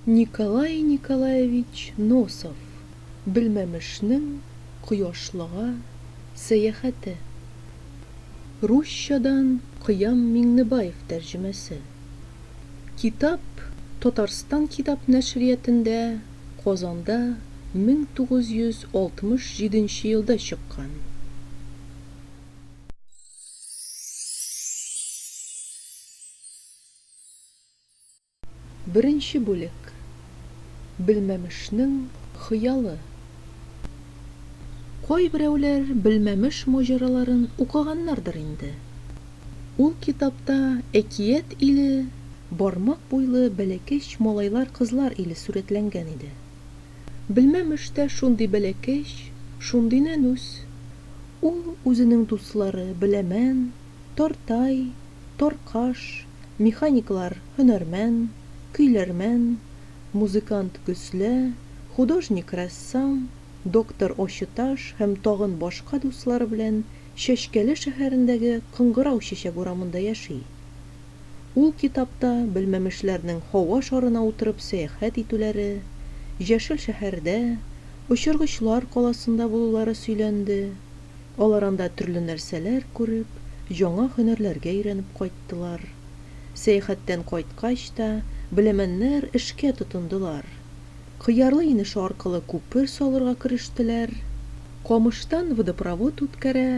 Николай Николаевич Носов Белмәмешнең кояшлыга сәяхәте. Русчадан Кыям Миңнебаев тәрҗемәсе. Китап Татарстан китап нәшриятендә Казанда 1967 елда чыккан. Беренче бүлек. Белмәмешнең хыялы. Кайберәүләр Белмәмеш маҗараларын укыганнардыр инде. Ул китапта әкият иле, бармак буйлы бәләкәч малайлар-кызлар иле сурәтләнгән иде. Белмәм эштә шундый бәләкәч, шундый нәнүс. Ул үзенең дуслары Беләмән, Тартай, Таркаш, механиклар Һөнәрмән, Көйләрмән, музыкант Гөслә, художник Рәссам, доктор Очыташ һәм тагын башка дуслары белән Чәчкәле шәһәрендәге Кыңгырау чәчәк урамында яши. Ул китапта белмәмешләрнең һава шарына утырып сәяхәт итүләре, Җәшел шәһәрдә, Очыргычлар каласында булулары сөйләнде. Алар анда төрле нәрсәләр күреп, яңа һөнәрләргә өйрәнеп кайттылар. Сәяхәттән кайткач та беләмәннәр эшкә тотындылар. Кыярлы инеше аркылы күпер салырга керештеләр. Камыштан водопровод үткәрә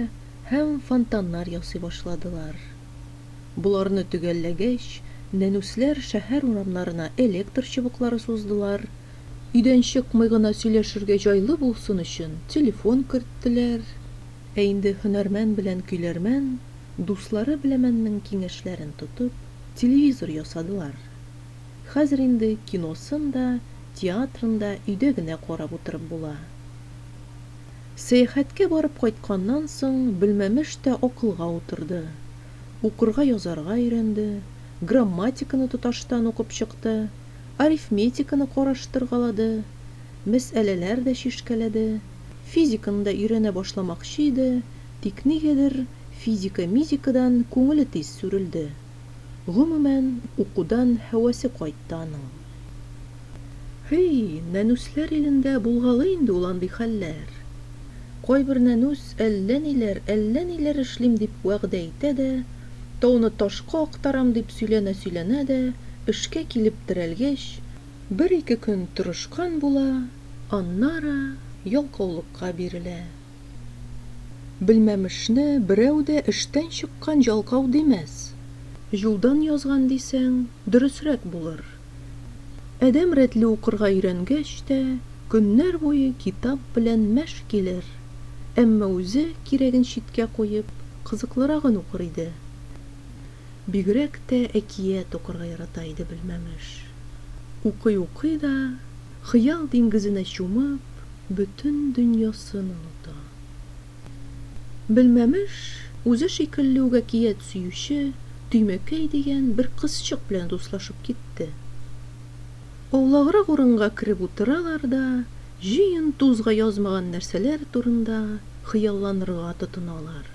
һәм фонтаннар ясый башладылар. Боларны төгәлләгәч, нәнүсләр шәһәр урамнарына электр чыбыклары суздылар, өйдән чыкмый гына сөйләшергә җайлы булсын өчен телефон керттеләр. Ә инде һөнәрмән белән көйләрмән, дуслары беләмәннең киңәшләрен тотып, телевизор ясадылар. Хәзер инде киносын да, театрын да өйдә генә карап утырып була. Сәяхәткә барып кайтканнан соң Белмәмеш тә акылга утырды. Укырга-язарга өйрәнде, грамматиканы тоташтан укып чыкты, арифметиканы караштыргалады, мәсьәләләр дә чишкәләде. Физиканы да өйрәнә башламакчы иде, тик нигәдер физика-мизикадан күңеле тиз сүрелде. Гомумән, укудан һәвәсе кайтты аның. Һый, нәнүсләр илендә булгалый инде ул андый хәлләр. Кайбер нәнүс әллә ниләр, әллә ниләр эшлим дип вәгъдә итә дә, тауны ташка актарам дип сөйләнә-сөйләнә дә, эшкә килеп терәлгәч, бер-ике көн тырышкан була, аннары ялкаулыкка бирелә. Белмәмешне берәү дә эштән чыккан җалкау димәс. Юлдан язган дисәң, дөресрәк булыр. Адәм рәтле укырга өйрәнгәч тә, көннәр буе китап белән мәш килер, әмма үзе кирәген читкә куеп, кызыклырагын укыр иде. Бигрәк тә әкият укырга ярата иде Белмәмеш. Укый-укый да, Хыял диңгезенә чумып, бөтен дөньясын оныта. Белмәмеш, үзе шикелле үк әкият сөюче Төймәкәй дигән бер кызчык белән дуслашып китте. Аулаграк урынга кереп утыралар да җыен тузга язмаган нәрсәләр турында хыялланырга тотыналар.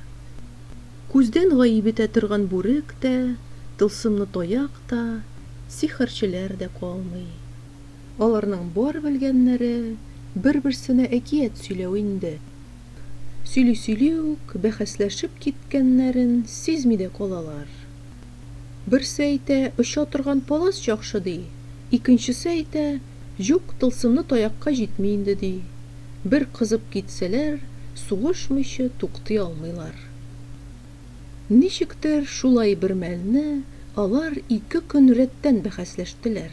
Күздән гаип итә торган бүрек тә, тылсымлы таяк та, сихерчеләр дә калмый. Аларның бар белгәннәре бер-берсенә әкият сөйләү инде. Сөйли-сөйли үк бәхәсләшеп киткәннәрен сизми дә калалар. Берсе әйтә, оча торган палас яхшы, ди, икенчесе әйтә, юк, тылсымлы таякка җитми инде, ди. Бер кызып китсәләр, сугышмыйча туктый алмыйлар. Ничектер шулай бермәлне алар ике көн рәттән бәхәсләштеләр.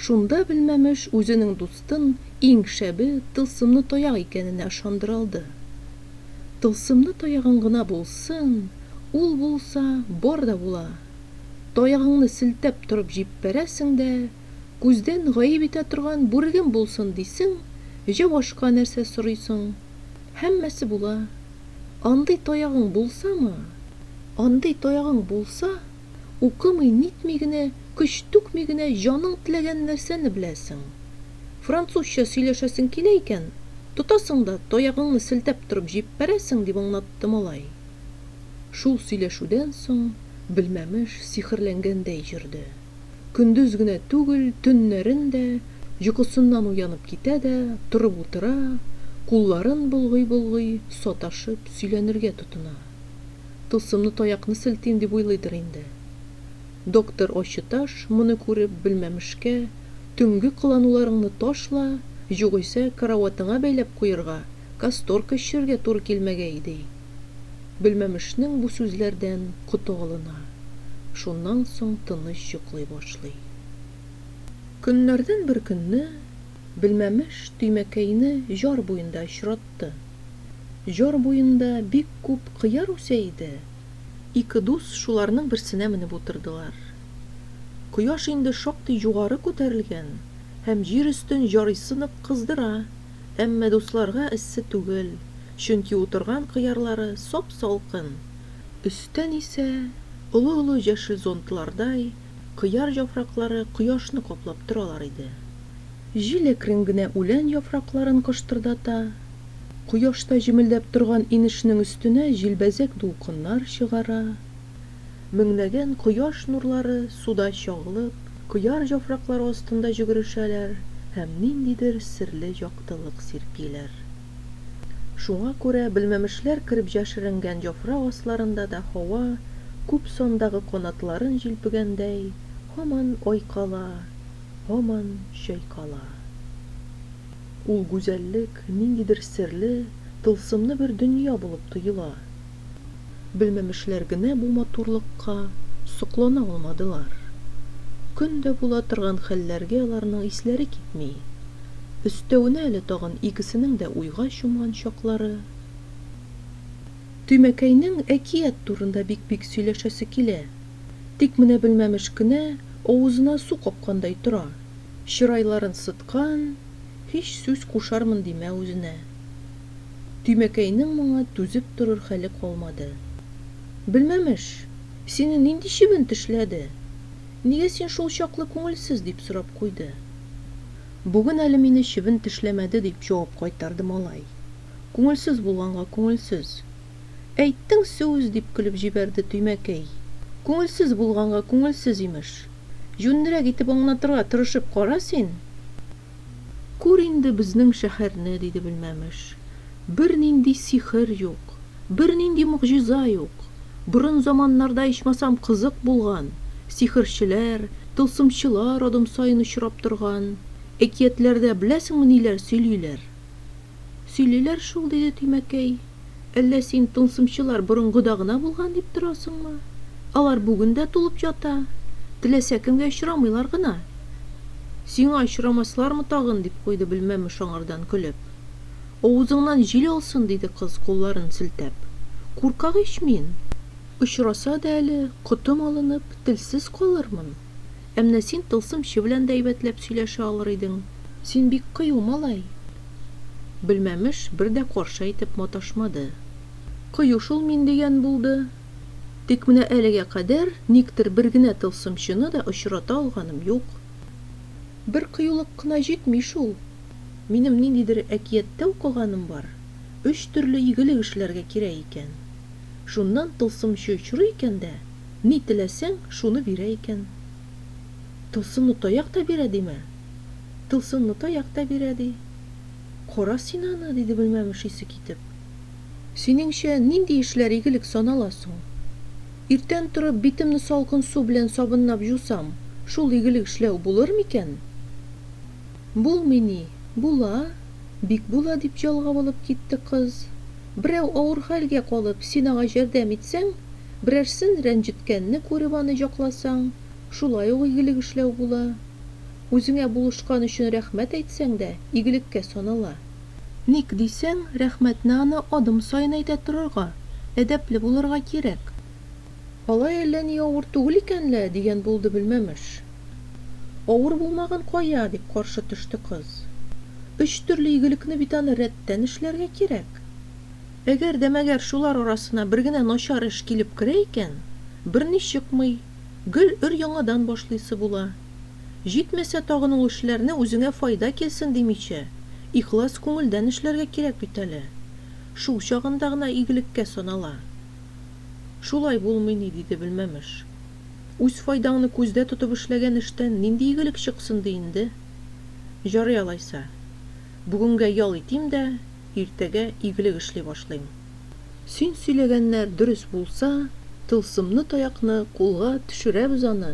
Шунда Белмәмеш үзенең дустын иң шәбе тылсымны таяк икәненә ышандыра алды. Тылсымны таягың гына булсын, ул булса, бар да була. Таягыңны селтәп торып җиппәрәсең дә, күздән гаеп итә торган бүрегем булсын дисең, җә башка нәрсә сорыйсың. Һәммәсе була. Андый таягың булсамы? Андый таягың булса, Укымый-нитми генә, көч түкми генә җаның теләгән нәрсәне беләсең. Французча сөйләшәсең килә икән, тотасың да таягыңны селтәп торып җиппәрәсең, дип аңлатты малай. Шул сөйләшүдән соң Белмәмеш сихерләнгәндәй йөрде. Көндез генә түгел, төннәрен дә, йокысыннан уянып китә дә, торып утыра, кулларын болгый-болгый, саташып сөйләнергә тотына. Тылсымлы таякны селтим дип уйлыйдыр инде. Доктор Ачыташ моны күреп белмәмешкә, Төнге кылануларыңны ташла, югыйсә караватыңа бәйләп куерга, касторка эчерергә туры килмәгәе, ди. Белмәмешнең бу сүзләрдән коты алына. Шуннан соң тыныч йоклый башлый. Көннәрдән бер көнне Белмәмеш Төймәкәйне җар буенда очратты. Җар буенда бик күп кыяр үсә иде. Ике дус шуларның берсенә менеп утырдылар. Кояш инде шактый югары күтәрелгән һәм җир өстен җарыйсы нык кыздыра, әмма дусларга эссе түгел, чөнки утырган кыярлары сап-салкын. Өстән исә, олы-олы җәшел зонтлардай, Кыяр яфраклары кояшны каплап торалар иде. Җил әкрен генә үлән яфракларын кыштырдата. Кояшта җемелдәп торган инешнең өстенә җилбәзәк дулкыннар чыгара. Меңнәгән кояш нурлары суда чагылып, кыяр яфраклары астында җөгерешәләр һәм ниндидер серле яктылык сирпиләр. Шуңа күрә белмәмешләр кереп җәшеренгән җафрак асларында да һава, күп сандагы канатларын җилпегәндәй, һаман айкала, һаман чайкала. Ул гүзәллек, ниндидер серле, тылсымны бер дөнья булып тоела. Белмәмешләр генә бу матурлыкка соклана алмадылар. Көн дә була торган хәлләргә аларның исләре китми. Өстәвенә әле тагын икесенең дә уйга чумган чаклары. Тимәкәйнең әкият турында бик-бик сөйләшәсе килә. Тик менә Белмәмеш кенә авызына су капкандай тора, чырайларын сыткан, һич сүз кушармын димә үзенә. Тимәкәйнең моңа түзеп торыр хәле калмады. Белмәмеш, сине нинди чебен тешләде? Нигә син шул чаклы күңелсез? дип сорап куйды. Бүген әле мине чебен тешләмәде, дип җавап кайтарды малай. Күңелсез булганга күңелсез. Әйттең сүз, дип көлеп җибәрде Тимәкәй. Күңелсез булганга күңелсез, имеш. Җүнлерәк итеп аңлатырга тырышып кара син. Күр инде безнең шәһәрне, диде Белмәмеш. Бернинди сихер юк, бернинди могҗиза юк. Борын заманнарда ичмасам кызык булган, сихерчеләр, тылсымчылар адым саен очрап торган. Әкиятләрдә беләсеңме ниләр сөйлиләр? Сөйлиләр шул, диде Тимәкәй. Әллә син тылсымчылар борынгыда гына булган дип торасыңмы? Алар бүген дә тулып ята. Теләсә кемгә очрамыйлар гына. Сиңа очрамаслармы тагын, дип куйды Белмәмеш аңардан көлеп. Авызыңнан җил алсын, диде кыз, кулларын селтәп. Куркак ич мин! Очраса да әле, котым алынып, телсез калырмын. Әмнә син тылсымчы белән дә әйбәтләп сөйләшә алыр идең. Син бик кыю малай. Белмәмеш бер дә каршы әйтеп маташмады. Кыю шул мин дигән булды. Тик менә әлегә кадәр никтер бер генә тылсымчыны да очрата алганым юк. Бер кыюлык кына җитми шул. Минем ниндидер әкияттә укыганым бар, өч төрле игелек эшләргә кирәк икән. Шуннан тылсымчы очрый икән дә, Ни теләсәң, шуны бирә икән. Тылсымлы таяк та бирә димә. Тылсымлы таяк та бирә, ди. Кара син аны, диде белмәмеш исе китеп. Синеңчә, нинди эшләр игелек санала соң? Иртән торып, битемне салкын су белән сабынлап җусам, шул игелек эшләү булыр микән? Булмый ни, була, бик була, дип җалгап алып китте кыз. Берәү авыр хәлгә калып, син аңа җәрдәм итсәң, берәрсен рәнҗеткәнне күреп аны җакласаң, шулай ук игелек эшләү була. Үзеңә булышкан өчен рәхмәт әйтсәң дә, игелеккә санала. Ник дисәң, рәхмәтне аны адым саен әйтә торырга, әдәпле булырга кирәк. Алай әллә ни авыр түгел икән лә, дигән булды Белмәмеш. Авыр булмаган кая, дип каршы төште кыз. Өч төрле игелекне бит аны рәттән эшләргә кирәк. Әгәр дә мәгәр шулар арасына бер генә начар эш килеп керә икән, берни чыкмый, гел өр-яңадан башлыйсы була. Җитмәсә тагын ул эшләрне үзеңә файда килсен димичә, ихлас күңелдән эшләргә кирәк бит әле. Шул чагында гына игелеккә санала. Шулай булмый ни, диде Белмәмеш. Үз файдаңны күздә тотып эшләгән эштән нинди игелек чыксын ди инде? Җарый алайса. Бүгенгә ял итим дә, иртәгә игелек эшли башлыйм. Син сөйләгәннәр дөрес булса, тылсымны таякны кулга төшерәбез аны!